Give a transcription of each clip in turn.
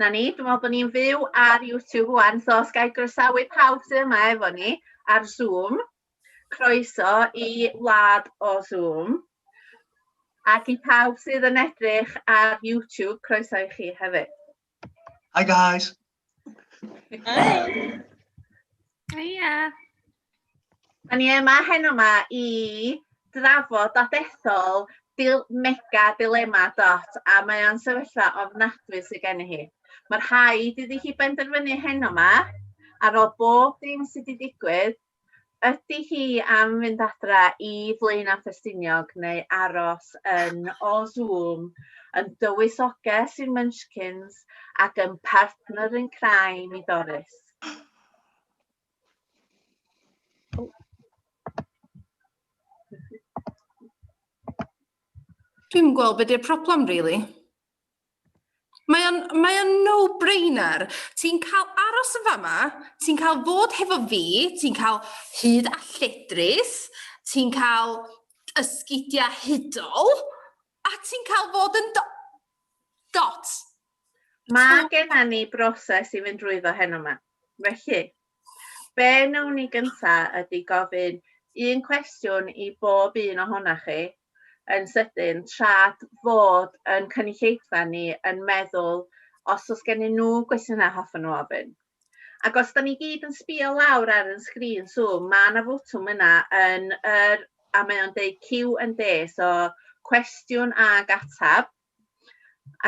Na ni, dwi'n meddwl bod ni'n fyw ar YouTube wan, so os gael groesawu pawb sydd yma efo ni ar Zoom, croeso i wlad o Zoom. Ac i pawb sydd yn edrych ar YouTube, croeso i chi hefyd. Hi guys. Hi. Hiya. Da ni yma heno yma i drafod a dethol dil mega dilema dot a mae o'n sefyllfa ofnadwy sydd gen i hi. Mae'r rhaid iddi hi benderfynu heno yma ar ôl bob dim sydd wedi digwydd Ydy hi am fynd adra i Flaenau Ffestiniog neu aros yn o Zoom yn dywysoges i'r Munchkins ac yn partner in crime i Doris? Dwi'm yn gweld be 'di'r problem rili. Mae o'n, mae o'n no-brainer. Ti'n cael aros yn fama, ti'n cael fod hefo fi, ti'n cael hyd a lledrith, ti'n cael ysgidia hudol, a ti'n cael fod yn do dot. Mae genna ni broses i fynd drwyddo heno ma, felly, Be wnawn ni gynta ydy gofyn un cwestiwn i bob un ohona chi yn sydyn trad fod yn cynulleidfa ni yn meddwl os o's gennyn nhw gwestiyna hoffwn nhw ofyn. Ac os da ni gyd yn sbio lawr ar yn sgrin Zoom ma na fotwm yna yn yr a mae o'n deud Q&A so cwestiwn ag atab.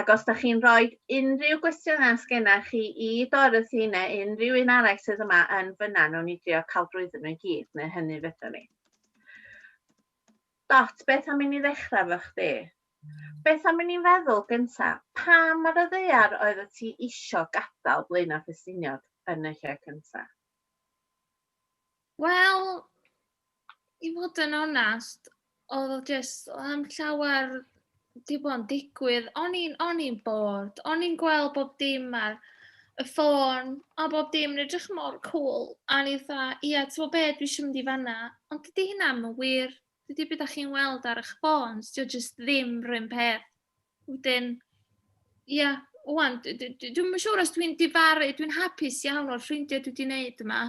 Ac os da chi'n rhoi unrhyw gwestiynau os genna chi i Dorothy neu unrhyw un arall sydd yma yn fyna, nhw'n ni drio cael drwyddyn nhw i gyd, neu hynny fydden ni. Dot, beth am i ni ddechrau fo chdi? Beth am i ni'n feddwl gynta, pam ar y ddear oedd y ti isio gadael Blaenau Ffestiniog yn y lle cynta? Wel, i fod yn onest, oedd o jyst, oedd am llawer, di bod yn digwydd. O'n i'n, o'n i'n bored. O'n i'n gweld bob dim ar y ffôn, a bob dim yn edrych mor cool. A ni dda, ia, ti'n gwybod be, dwi eisiau mynd i fanna. Ond dydy hynna ddim yn wir. Dydy beth da chi'n weld ar eich ffôns, dydy o jyst ddim rhywun peth. Wedyn, ia, wwan, dwi'n yn siŵr os dwi'n difaru, dwi'n hapus iawn o'r ffrindiau dwi wedi wneud yma.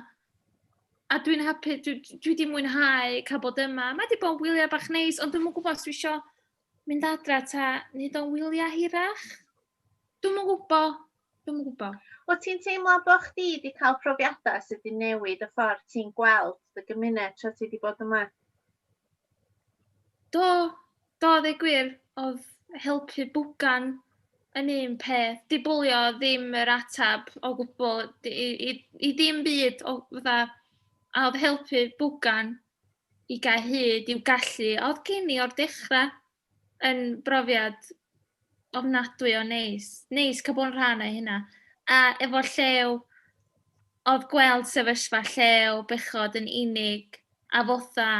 A dwi'n hapus, dwi, dwi wedi mwynhau cael bod yma. Mae wedi bod yn wyliau bach neis, ond dwi'n yn gwybod os dwi eisiau mynd adra ta nid o'n wyliau hirach. Dwi'n yn gwybod, dwi'n yn gwybod. O ti'n teimlo bod chdi wedi cael profiadau sydd wedi newid y ffordd ti'n gweld dy gymuned tra ti wedi bod yma? Do, Do, ddeud gwir, oedd helpu bwgan yn un peth. Di bwlio ddim yr atab o gwbl i, i, i ddim byd o fatha, a oedd helpu bwgan i gael hyd i'w gallu. Oedd gen i o'r dechrau yn brofiad ofnadwy o neis. Neis cael bod yn rhan o hynna. A efo llew, oedd gweld sefyllfa llew bechod yn unig a fotha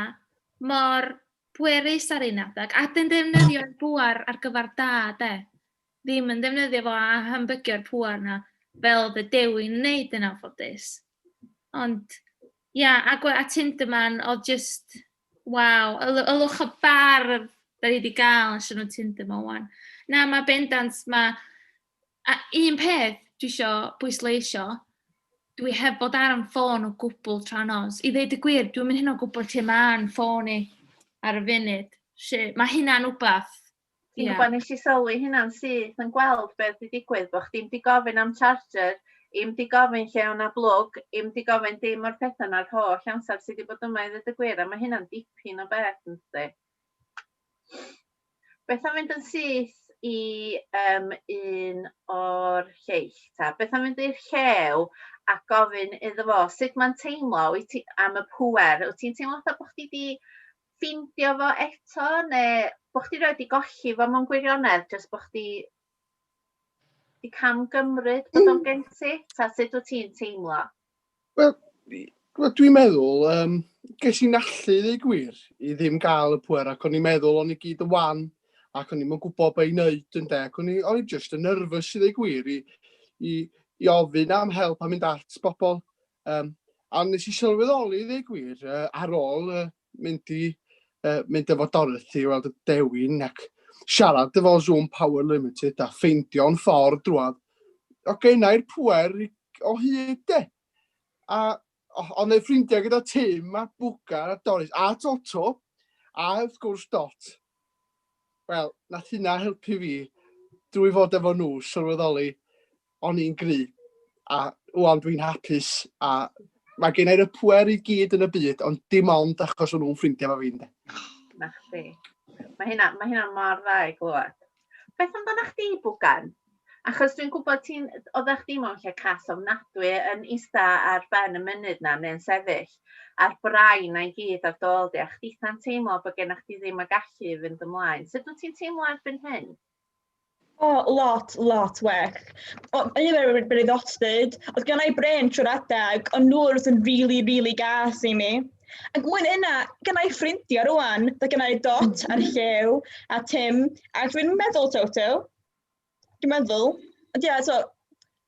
mor pwerus ar un adeg, a wedyn defnyddio'r pŵer ar gyfer da, de. Ddim yn ddefnyddio fo a hambygio'r pŵer 'na, fel oedd y Dewi yn wneud yn anffodus. Ond, ia, agwedd at Tinderman oedd jyst, waw, yl- ylwch y bardd 'da ni 'di gael allan o Tinder 'ma ŵan. Na, mae bendant, mae A un peth dwi isio pwysleisio, dwi heb fod ar fy ffôn o gwbl tra nos. I ddweud y gwir, dwi'm yn hynod yn gwybod lle mae fy ffôn i ar y funud. Felly, mae hynna'n wbath. Ti'n gwybod, nes i sylwi hynna'n syth yn gweld beth wedi digwydd, bod chdi'm 'di gofyn am charger, i'm 'di gofyn lle o' 'na blwg, i'm 'di gofyn dim o'r pethau 'na'r holl amser ti 'di bod yma i ddweud y gwir, a mae hynna'n dipyn o beth, yn dydi? Beth am fynd yn syth i yym un o'r lleill 'ta? Beth am fynd i'r llew a gofyn iddo fo sut mae'n teimlo wyt ti am y pŵer wyt ti'n teimlo fatha bo' chdi 'di ffeindio fo eto ne' bo' chdi rioed 'di golli fo mewn gwirionedd jyst bo' chdi 'di cam gymryd bod o'n gen ti? 'Ta sut wt ti'n teimlo? Wel, wel dwi'n meddwl, um, ges i'n allu ddeu gwir i ddim gael y pwer ac o'n i'n meddwl o'n i gyd y wan ac o'n i'n mwyn gwybod beth i'n neud yn de ac o'n i'n just yn nervous i ddeu gwir i, i, i ofyn am help a mynd at bobl. Um, a nes i sylweddoli ddeu gwir uh, ar ôl uh, mynd i uh, mynd efo Dorothy i weld y dewin ac siarad efo Zoom Power Limited a ffeindio'n ffordd drwad. O gennau'r pwer o hyd de. A ond ei ffrindiau gyda Tim a Bwgar a Doris a Toto a wrth gwrs Dot. Wel, nath hynna helpu fi drwy fod efo nhw sylweddoli o'n i'n gry a wwan dwi'n hapus a mae gen i'r pwer i gyd yn y byd ond dim ond achos o'n nhw'n ffrindiau fo fi'n de. Na chdi. Mae hynna, mae hynna mor dda i glywed. Beth amdanach chdi Bwgan? Achos dwi'n gwybod ti'n... oeddach chdi mewn lle call ofnadwy yn ista ar ben y mynydd 'na neu'n sefyll ar brain 'na i gyd ar dy ôl di a chditha'n teimlo bod gennych chdi ddim y gallu i fynd ymlaen. Sut wyt ti'n teimlo erbyn hyn? O, lot, lot well. O, yn un o'r breuddostyd, oedd gen i brain trwy'r adeg, ond nhw oedd yn rili, rili gas i mi. Ac mwyn yna, gynnau ffrindiau rwan, da gynnau Dot a'r Llew a Tim, a dwi'n meddwl Toto, dwi'n meddwl, ond ia, so,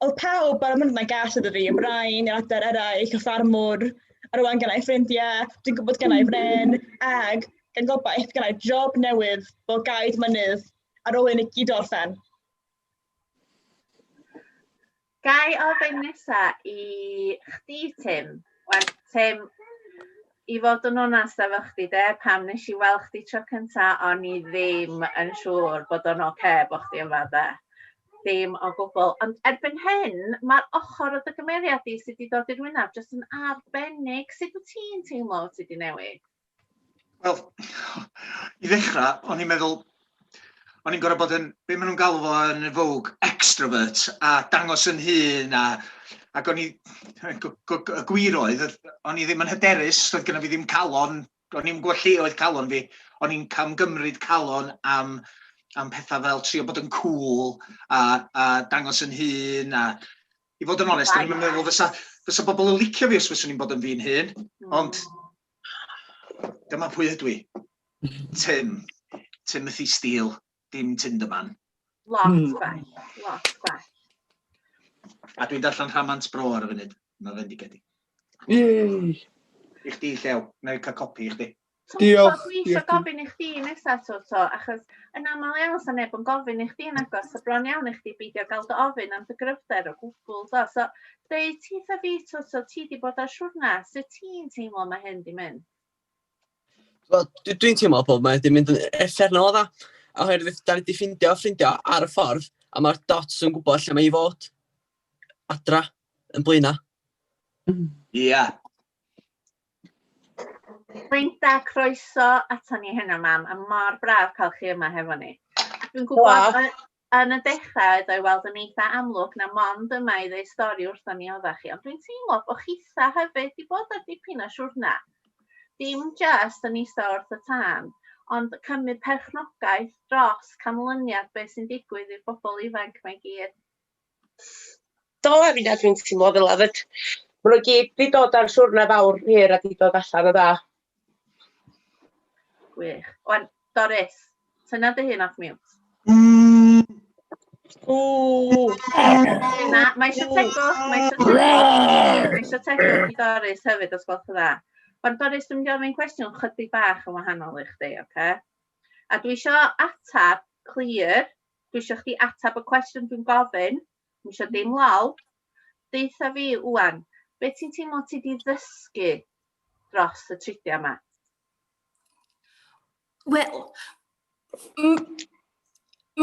oedd pawb ar y mynd yna gas ydw fi, Brian, yr adar eraill, y ffarmwr, a rwan gynnau ffrindiau, dwi'n gwybod gynnau fren, ag gan gobaith gynnau job newydd fel gaid mynydd ar ôl i ni gyd orffen. Gai ofyn nesa i chdi Tim? Wel Tim i fod yn onast efo chdi de pam nes i weld chdi tro cynta o'n i ddim yn siŵr bod o'n ocê bo' chdi yma de. Dim o gwbwl ond erbyn hyn ma'r ochor o dy gymeriad di sy 'di dod i'r wynab jyst yn arbennig sut wt ti'n teimlo wt ti 'di newid? Wel, i ddechrau, o'n i'n meddwl, o'n i'n gorfod bod yn, be maen nhw'n galw fo yn y fawg, extrovert, a dangos yn hun, a, ac o'n i, y gwir oedd, o'n i ddim yn hyderus, oedd gyda fi ddim calon, o'n i'n gwybod lle oedd calon fi, o'n i'n camgymryd calon am, am pethau fel trio bod yn cool, a, a dangos yn hun, a i fod yn onest, o'n i'n meddwl fysa, fysa bobl yn licio fi os fyswn i'n bod yn fi'n hun, ond Dyma pwy ydw i. Tim. Timothy Steele. Dim Tinderman. Lot hmm. gwell. Lot gwell. A dwi'n darllen Rhamant Bro ar y funud. Mae fe'n digedig. Yey! I chdi, Llew. Na i cael copi i chdi. Diolch. Dwi eisiau gofyn i chdi nesaf, Toto, achos yn aml iawn sy'n neb yn gofyn i chdi yn agos, so bron iawn i chdi beidio gael dy ofyn am dy gryfder o gwbl, do. So, Deu ti tha fi twt o ti di bod ar siwrna, sut ti'n teimlo mae hyn di mynd? Wel, dwi'n teimlo bod mae wedi mynd yn effernol o dda, oherwydd da ni wedi ffindio ffrindio ar y ffordd, a mae'r dots yn gwybod lle mae i fod adra yn blaenau. Mm. Ie. Yeah. Linda, croeso ato ni heno, mam, a mor braf cael chi yma hefo ni. Dwi'n gwybod, Yn y dechrau oedd o i weld yn eitha amlwg na mond yma i ddeu stori wrthon ni oddach chi, ond dwi'n teimlo bo' chitha hefyd 'di bod ar dipyn o siwrna. Dim jyst yn ista wrth y tân, ond cymryd perchnogaeth dros canlyniad be' sy'n digwydd i'r bobol ifanc 'ma i gyd. Do, a fi'n edrych yn teimlo fel yfed. Maen nhw gyd wedi dod ar siwrna fawr hir a wedi dod allan o dda. Gwych. Wan, Doris, tyna dy hun off mute. Mm. Na, mae eisiau tegwch, mae eisiau tegwch, mae eisiau tegwch i Doris hefyd os gwelwch yn dda. Ond Doris, dwi'n gofyn cwestiwn chydig bach yn wahanol i chdi, oce? Okay? A dwi eisiau atab clir Dwi isio chdi ateb y cwestiwn dwi'n gofyn, dwi isio dim lol. Deutha fi ŵan, be ti'n teimlo ti di ddysgu dros y tridiau yma? Wel,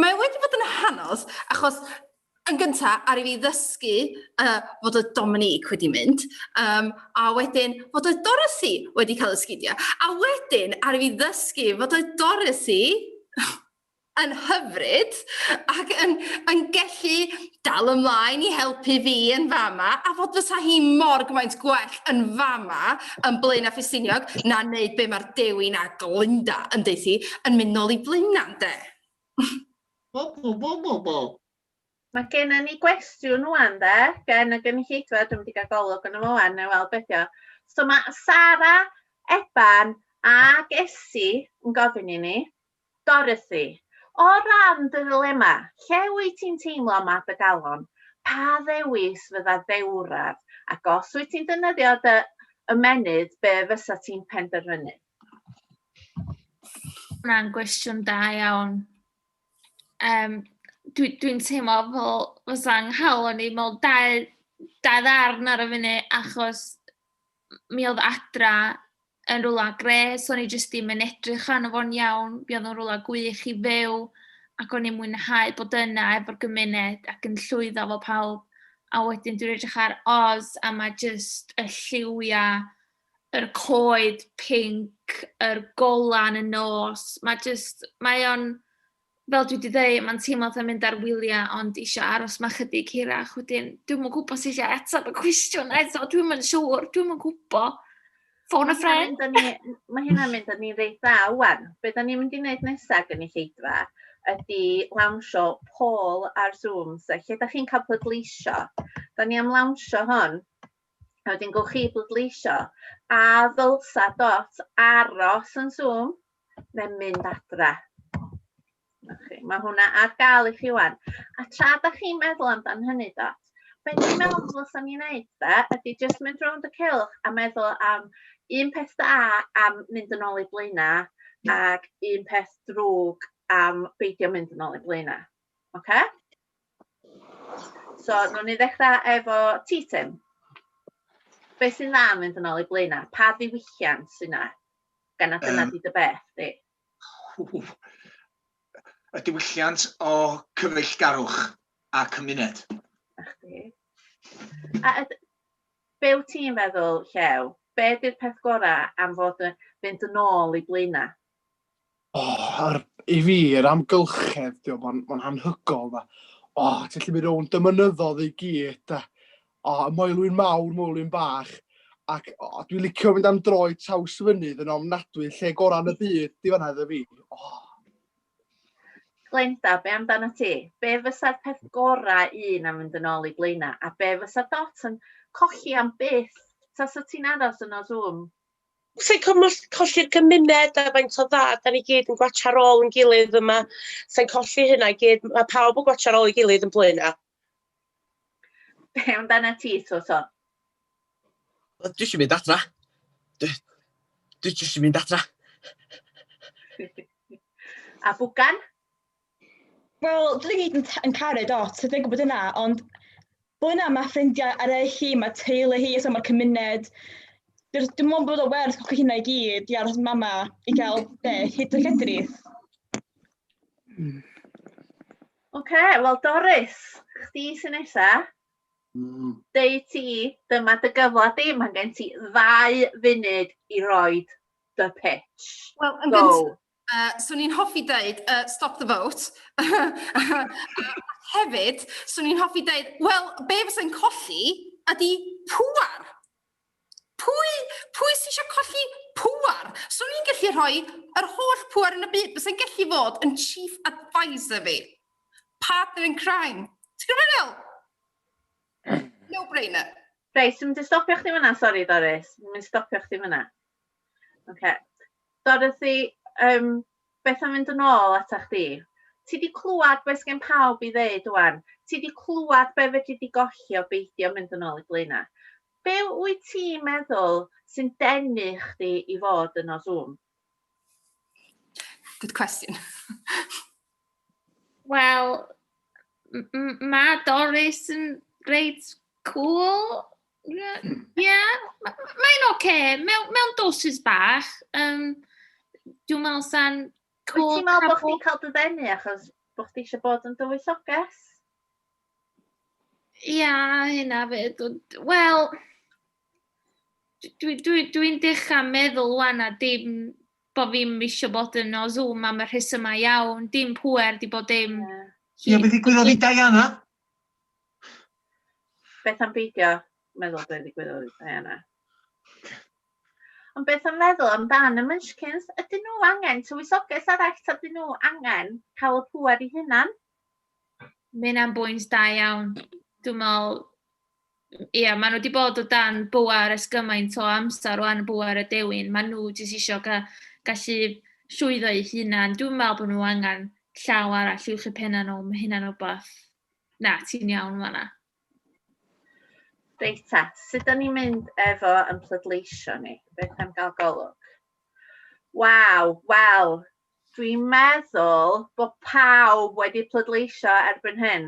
mae wedi bod yn hanos, achos yn gyntaf, ar i fi ddysgu uh, fod y Dominique wedi mynd, um, a wedyn fod y Dorothy wedi cael ysgidio, a wedyn ar i fi ddysgu fod y Dorothy yn hyfryd ac yn, yn gellu dal ymlaen i helpu fi yn fama a fod fysa hi mor gymaint gwell yn fama yn Blaenau Ffestiniog na wneud be mae'r Dewi na Glynda yn deud hi yn mynd nôl i Blaenau ynde? Bo bo bo bo bo. Mae genna ni gwestiwn ŵan de gen y gynulleidfa, dwi'm wedi cael golwg yno fo ŵan, neu weld beth yw. So mae Sara, Eban ac Esi yn gofyn i ni, Dorothy, O ran dy ddilemma, lle wyt ti'n teimlo mae dy galon? Pa ddewis fydda dewraf? Ac os wyt ti'n defnyddio dy ymennydd, be fysa ti'n penderfynu? Hwnna'n gwestiwn da iawn. Um, Dwi'n dwi teimlo fel fysa nghalon i mewn dau, dau ddarn ar y funud achos mi oedd Adra yn rywle grêt, o'n i jyst ddim yn edrych arno fo'n iawn, mi oedd o'n rywle gwych i fyw, ac o'n i'n mwynhau bod yna efo'r gymuned ac yn llwyddo efo pawb. A wedyn dwi'n edrych ar Oz, a mae jyst y lliwiau, yr coed pinc, yr golau yn y nos, mae jyst, mae o'n... Fel dwi 'di ddeud, mae'n teimlo fatha mynd ar wyliau, ond isio aros 'ma chydig hirach. Wedyn, dwi'm yn gwybod sut i ateb y cwestiwn eto, dwi'm yn siŵr, dwi'm yn gwybod. Ffôn a ffrind! Mae hynna'n mynd â ni reit dda ŵan. Be da ni'n mynd i wneud nesaf gen i lleidfa ydy lawnsio pôl ar Zoom, so lle da chi'n cael pleidleisio. Da ni am lawnsio hon, a wedyn gowch chi bleidleisio, a ddylsa dot aros yn Zoom, mae'n mynd adra. Okay. Mae hwnna ar gael i chi wan. A tra da chi'n meddwl amdan hynny, Dot, beth dwi'n meddwl ddylswn ni'n neud da, ydy just mynd rownd y cilch a meddwl am un peth da am mynd yn ôl i blaenau ac un peth drwg am beidio mynd yn ôl i blaenau. Oce? Okay? So, nhw'n ni ddechrau efo ti, Tim. Beth sy'n dda yn mynd yn ôl i blaenau? Pa ddiwylliant sy'n dda? Gan nad dyna um, di dy beth, di? Y diwylliant o cyfeillgarwch a cymuned. A chdi. A be wyt ti'n feddwl, Llew? Be di'r peth gorau am fod yn fynd yn ôl i blaenau? Oh, ar, I fi, yr amgylchedd, dio, mae'n ma hanhygol, da. O, oh, ti'n lli mynd o'n dymynyddodd i gyd, da. O, oh, moelwyn mawr, moelwyn bach. Ac oh, dwi'n licio mynd am droi traws fynydd yn ofnadwy, lle gorau yn y byd, di fanna iddo fi. Oh. Glenda, be amdano ti? Be fysa'r peth gorau un am fynd yn ôl i blaenau? A be fysa dot yn colli am byth? Ta sa ti'n aros yn o Zoom? Sa'n colli, colli'r gymuned a faint o dda, da ni gyd yn gwacha rôl yn gilydd yma. Sa'n colli hynna i gyd, mae pawb yn gwacha rôl i gilydd yn blaenau. Be amdana ti, Twson? Wel, dwi eisiau mynd adra. Dwi, dwi eisiau mynd adra. a bwgan? Wel, dwi gyd yn, yn caru dot, dwi'n gwybod yna, ond bod yna mae ffrindiau eraill hi, mae teulu hi, so mae cymuned. Dwi'n dwi mwyn bod o werth o'ch hynna i gyd i aros mama i gael be, hyd y cedrith. Oce, okay, wel Doris, chdi sy'n nesa. Mm. Deu ti, dyma dy gyfle di, mae gen ti ddau funud i roed dy pitch. Wel, yn gyntaf, Uh, so ni'n hoffi dweud, uh, stop the vote. hefyd, so ni'n hoffi dweud, wel, be fysa'n colli ydy pŵar. Pwy, pwy sy'n eisiau colli pŵar? So ni'n gallu rhoi yr holl pŵar yn y byd, fysa'n gallu fod yn chief advisor fi. Partner in crime. Ti'n gwybod fel? No-brainer. Reit, so mynd i stopio chdi fyna, sori Doris. Mynd i stopio chdi fyna. Ocê. Dorothy, yym, beth am fynd yn ôl ata chdi? Ti 'di clwad be' sgen pawb i ddeud ŵan. Ti 'di clwad be' fedri di golli o beidio mynd yn ôl i Blaena'. Be' wyt ti'n meddwl sy'n denu chdi i fod yno Zoom? Good question. Wel, m- m- mae Doris yn reit cool. Ie, mae'n oce. Mewn doses bach. Dwi'n meddwl sa'n... Wyt ti'n meddwl bod chdi'n cael dy ddenu achos bod chdi eisiau bod yn dywysoges? Ia, hynna fyd. Wel, dwi'n dwi, dwi dechrau meddwl wan a dim bod fi'n eisiau bod yn o Zoom am y rhesymau iawn, dim pwer, di bod dim... Ie, yeah. yeah, beth i gwybod i Diana? Beth am beidio meddwl be ddigwyddodd i Diana? Ond beth am feddwl amdan y Munchkins? Ydyn nhw angen tywysoges arall ta ydyn nhw angen cael y pŵer i hunan? Mae hynna'n bwynt da iawn. Dwi'n meddwl ia, maen nhw wedi bod o dan bŵer ers gymaint o amser rwan, bŵer y dewin. Maen nhw jyst isio ga- gallu llwyddo eu hunan. Dwi'n meddwl bod nhw angen llaw arall i'w chi penna nhw. Mae hynna'n rhywbeth... Na, ti'n iawn yn fanna. Reit ta, sut da ni'n mynd efo yn plydleisio ni? Beth am gael golwg? Waw, wel, dwi'n meddwl bod pawb wedi plydleisio erbyn hyn.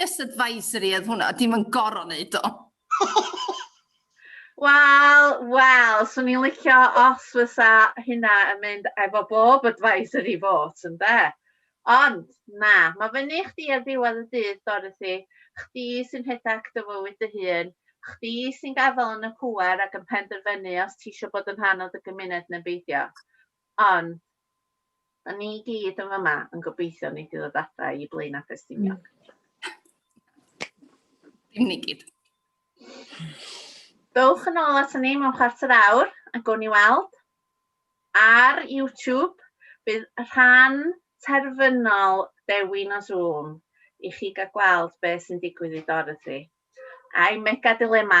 Just advisory oedd hwnna, dim yn gorau wneud o. Wel, wel, swn i'n licio os fysa hynna yn mynd efo bob advisory vote, ynde? Ond, na, mae fyny i chdi ar ddiwedd y dydd, Dorothy. Chdi sy'n rhedeg dy fywyd dy hun. Chdi sy'n gadael yn y pŵer ac yn penderfynu os ti eisiau bod yn rhan o dy gymuned neu beidio. Ond, da ni i gyd yn fama yn gobeithio wnei di ddod adra i Blaen a Ffestiniog. Dim ni gyd. Dowch yn ôl at ni mewn chwarter awr a gown ni weld. Ar YouTube, bydd rhan terfynol dewin o Zoom i chi gael gweld beth sy'n digwydd i Dorothy. A'i mega dilema,